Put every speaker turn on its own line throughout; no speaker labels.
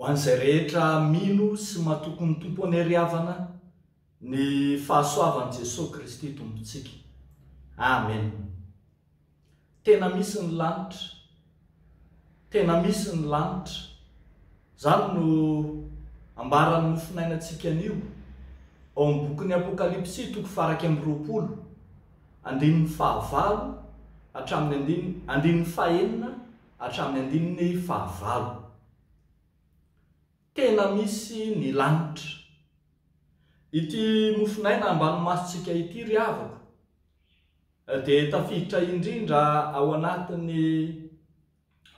Ho an'izay rehetra mino sy matoky ny Tompo any ariavana, Ny fahasoavan'i Jesoa Kristy Tompontsika. Amen. Tena misy ny lanitra. Tena misy ny lanitra. Zany no ambaran'ny mofonainantsika anio ao amin'ny bokin'ny Apokalypsy toko faraika amby roapolo andininy fahavalo hatramin'ny andininy andininy fahenina hatramin'ny andininy fahavalo. Tena misy ny lanitra. Ity mofon'aina ambany masontsika ity ry havako dia tafiditra indrindra ao anatin'ny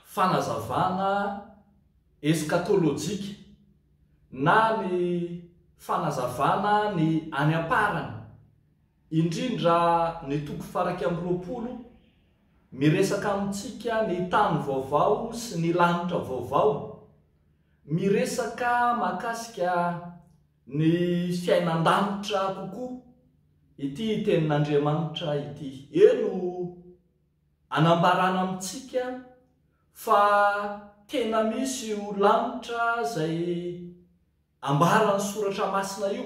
fanazavana eskatolojika na ny fanazavana ny any am-parany, indrindra ny toko faraika amby roapolo miresaka amintsika ny tany vaovao sy ny lanitra vaovao Miresaka mahakasika ny fiainan-danitra kokoa ity Tenin'Andriamanitra ity. Eny o, anambarana amintsika fa tena misy io lanitra izay Ambaran'ny Soratra Masina io.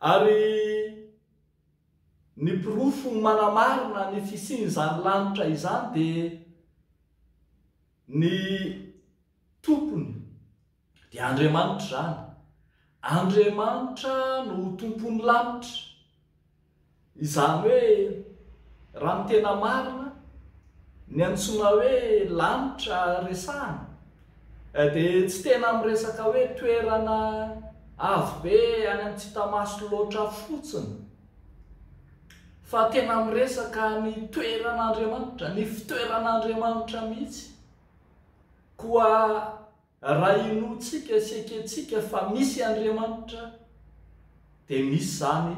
Ary ny porofo manamarina ny fisian'izany lanitra izany dia ny Tompony dia Andriamanitra izany. Andriamanitra no Tompon'ny lanitra. Izany hoe, raha ny tena marina, ny antsoina hoe lanitra resahana eh, dia tsy tena miresaka hoe toerana avo be any amin'ny tsy hita maso loatra fotsiny, fa tena miresaka ny toeran'Andriamanitra, ny fitoeran'Andriamanitra mihitsy. Koa. Raha inoantsika sy ekentsika fa misy Andriamanitra, dia misy izany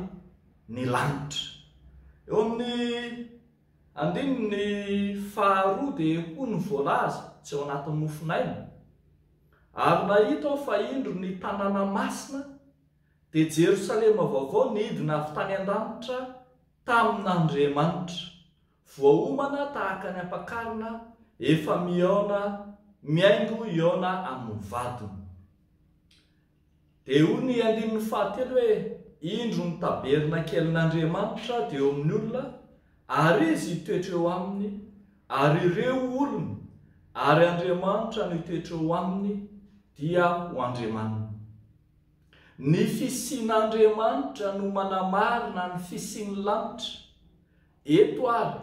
ny lanitra. Eo amin'ny andininy faharoa dia hoy ny voalaza, tsy ao anatin'ny mofon'aina, Ary nahita aho fa indro ny tanàna masina, dia Jerosalema vaovao nidina avy tany an-danitra tamin'Andriamanitra, Voaomana tahaka ny ampakarina efa mihaona mihaingo hihaona amin'ny vadiny. Dia hoy ny andininy fahatelo hoe, Indro ny tabernakelin'Andriamanitra dia eo amin'ny olona, ary Izy hitoetra eo aminy, ary ireo olony, ary Andriamanitra no hitoetra eo aminy, dia ho Andriamaniny. Ny fisian'Andriamanitra no manamarina ny fisian'ny lanitra, Eto ary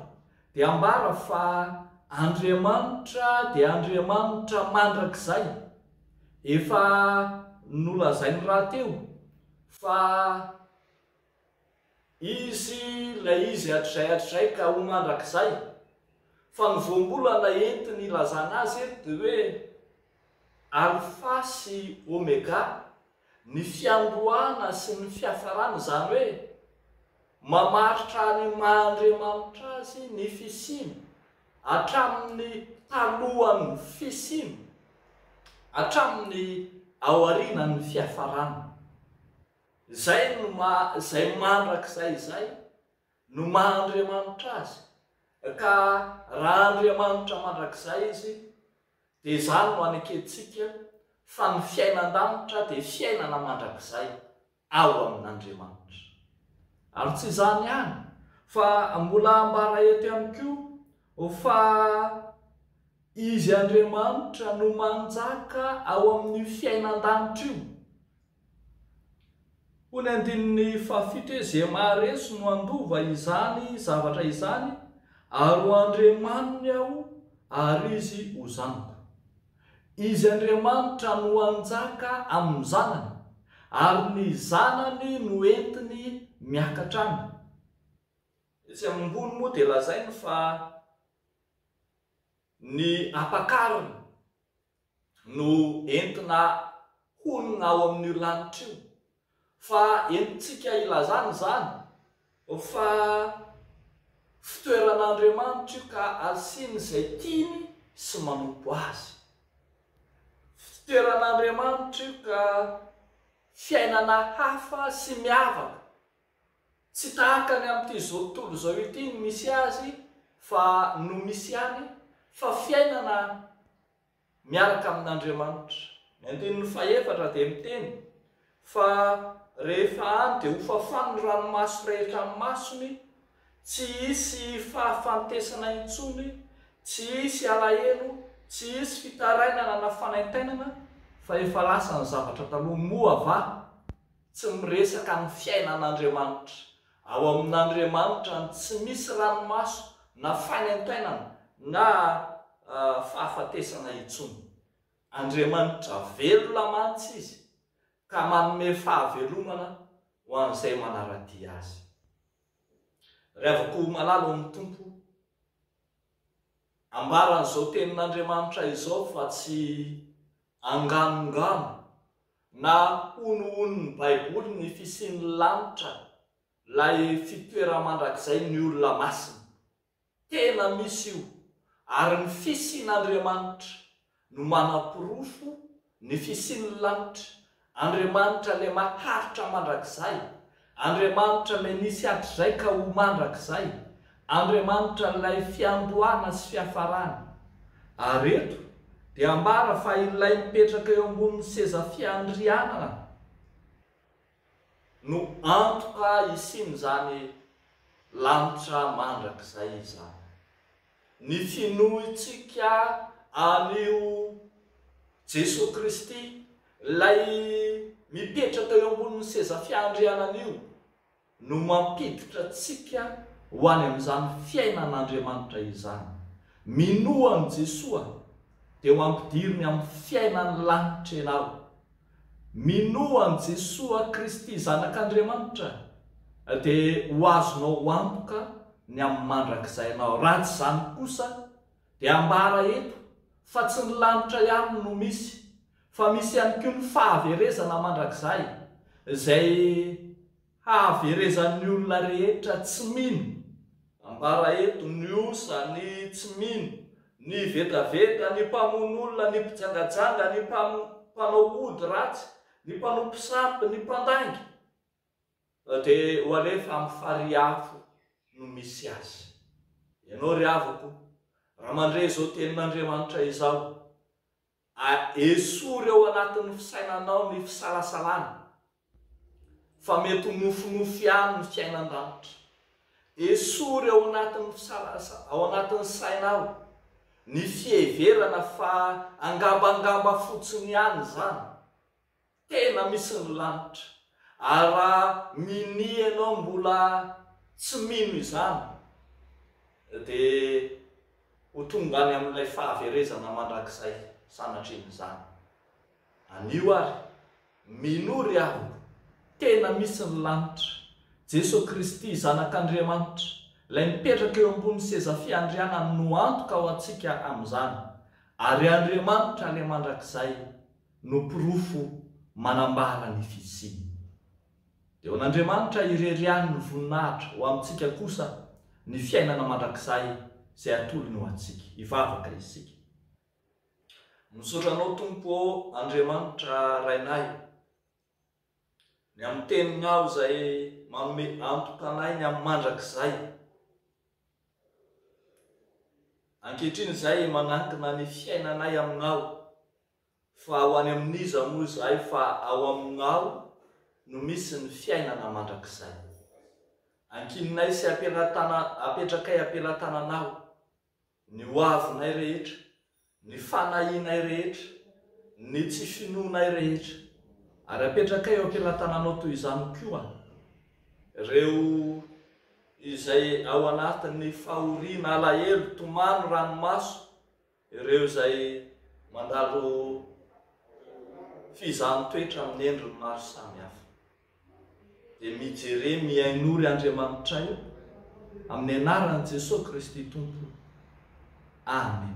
dia ambara fa Andriamanitra dia Andriamanitra mandrakizay. Efa nolazainy rahateo fa Izy ilay Izy hatrizay hatrizay ka ho mandrakizay. Fa ny voambolana entin'ny ilazana Azy eto dia hoe Alfa sy Omega, ny fiandohana sy ny fiafarana, izany hoe, mamaritra ny maha Andriamanitra Azy ny fisiany, hatramin'ny talohan'ny fisiany, hatramin'ny aorianan'ny fiafarana. Izay no maha izay mandrakizay izay no maha Andriamanitra Azy, ka raha Andriamanitra mandrakizay Izy, Dia izany no anekentsika fa ny fiainan-danitra dia fiainana mandrakizay ao amin'Andriamanitra. Ary tsy izany ihany fa mbola ambara eto ihany koa fa Izy Andriamanitra no manjaka ao amin'io fiainan-danitra io. Hoy ny andininy fahafito hoe, Ze maharesy no handova izany zavatra izany, ary ho Andriamaniny aho, ary izy ho zanako. Izy Andriamanitra no hanjaka amin' ny zanany, ary ny zanany no entiny miakatra any. Etsy ambony moa dia lazainy fa ny ampakarina no entina honina ao amin'io lanitra io, fa entintsika ilazana izany fa fitoeran'Andriamanitra io ka asiany izay tiany sy manompo Azy. Fitoeran'Andriamanitra io ka fiainana hafa sy miavaka Tsy tahaka ny amin'ity izao tontolo izao ity ny misy azy fa no misy ihany fa fiainana miaraka amin'Andriamanitra. Ny andininy fahefatra dia miteny fa rehefa any dia hofafany ny ranomaso rehetra amin'ny masony, tsy hisy fahafantesana intsony, tsy hisy alahelo, tsy hisy fitarainana na fanaintainana fa efa lasa ny zavatra taloha. Moa va? Tsy miresaka ny fiainan'Andriamanitra. Ao amin'Andriamanitra ny tsy misy ranomaso na fanaintainana na fahafatesana intsony. Andriamanitra velona mantsy Izy ka manome fahavelomana ho an'izay manara-dia Azy. Ry havako ho malala ao amin'ny Tompo, ambaran'izao tenin'Andriamanitra izao fa tsy Anganongano na honohonin'ny Baiboly ny fisian'ny lanitra, ilay fitoeram-mandrakizain'ny olona masina. Tena misy io, ary ny fisian'Andriamanitra no manaporofo ny fisian'ny lanitra Andriamanitra le maharitra mandrakizay, Andriamanitra le nisy hatrizay ka ho mandrakizay, Andriamanitra ilay fiandohana sy fiafarana. Ary eto dia ambara fa ilay mipetraka eo ambonin'ny seza fiandrianana no antoka hisian'izany lanitra mandrakizay izany. Ny finoantsika an'io Jesoa Kristy, Ilay mipetraka eo ambonin'ny seza fiandrianana io, no mampiditra antsika ho any amin'izany fiainan'Andriamanitra izany. Minoa an'i Jesoa dia ho ampidiriny amin'ny fiainan'ny lanitra ianao. Minoa an'i Jesoa Kristy Zanak'Andriamanitra dia ho azonao antoka ny amin'ny mandrakizay ianao. Raha tsy izany kosa dia ambara eto fa tsy ny lanitra ihany no misy fa misy ihany koa ny fahaverezana mandrakizay izay Hahaverezan'ny olona rehetra tsy mino, ambara eto, ny osa, ny tsy mino, ny vetaveta, ny mpamono olona, ny mpijangajanga, ny mpanao ody ratsy, ny mpanompo sampy, ny mpandainga. Dia ho alefa amin'ny farihy afo no misy azy. Ianao ry havako, raha mandre izao tenin'Andriamanitra izao, A Esory ao anatin'ny fisainanao ny fisalasalana fa mety ho nofinofy ihany ny fiainan-danitra. Esory ao anatin'ny fisalasa, ao anatin'ny sainao ny fiheverana fa angambangamba fotsiny ihany izany. Tena misy ny lanitra. Ary raha minia ianao mbola tsy mino izany dia ho tonga any amin'ilay fahaverezana mandrakizay sanatrin'izany. Anio ary, minoa ry havoko, tena misy ny lanitra. Jeso Kristy, Zanak'Andriamanitra, ilay mipetraka eo ambony seza fiandrianany no antoka ho antsika amin'izany. Ary Andriamanitra ilay mandrakizay. no porofo manambara ny fisiany. Dia ho an'Andriamanitra irery ihany ny voninahitra, ho amintsika kosa ny fiainana mandrakizay izay atolony ho antsika. Hivavaka isika. Misaotra Anao Tompo ô Andriamanitra Rainay, ny amin'ny Teninao izay manome antoka anay ny amin'ny mandrakizay. Ankehitriny izay manankina ny fiainanay Aminao. Fa ho any amin'iza moa izahay fa ao aminao no misy ny fiainana mandrakizay. Ankininay sy ampela-tana apetrakay ampela-tananao ny ho avinay rehetra, ny fanahianay rehetra, ny tsy finoanay rehetra. Ary apetrakay eo ampela-tananao toy izany koa ireo izay ao anatin'ny fahoriana, alahelo, tomany, ranomaso, Ireo izay mandalo fizahan-toetra amin'ny endriny maro samihafa dia mijere mihainory Andriamanitray amin'ny anaran'i Jesoa Kristy Tompo. Amen.